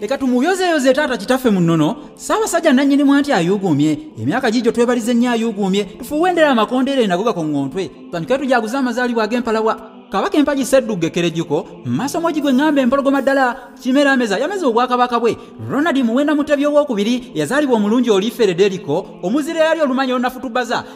leka tumuyozeyoze taata kitaffe mu nnono ssaabasajja nannyini mwa nti ayuuguumye emyaka gijo twebalize nnyo ayuuguumye tufuuwendera amakondeere nago gakoŋŋontwe tandike tujaguze amazaalibwa ag'empalawa kabaka empagi seddugga ekkerejjuko mu maaso mogi gwe ŋŋamba empologoma ddala kimera ameza yameza obwakabaka bwe ronald muwenda mutebi ow'okubiri yazaalibwa omulungi oliiferederiko omuzira yali olumanya olunafutubaza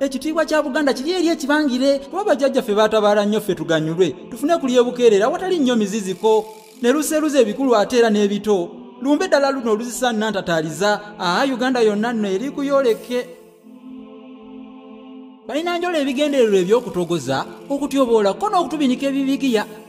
ekitiibwa kya buganda kiri eri ekibangire kuba bajjajjaffe baatabaala nnyo ffe tuganyulwe tufune ku lyebukeerera awatali nnyo miziziko ne luseeruza ebikulu ate era n'ebito lumbe ddala luno oluzisa nnantataaliza aa uganda yonna nno eri kuyooleke balina njola ebigendererwa eby'okutogoza okutyoboola ko n'okutubinika ebibigiya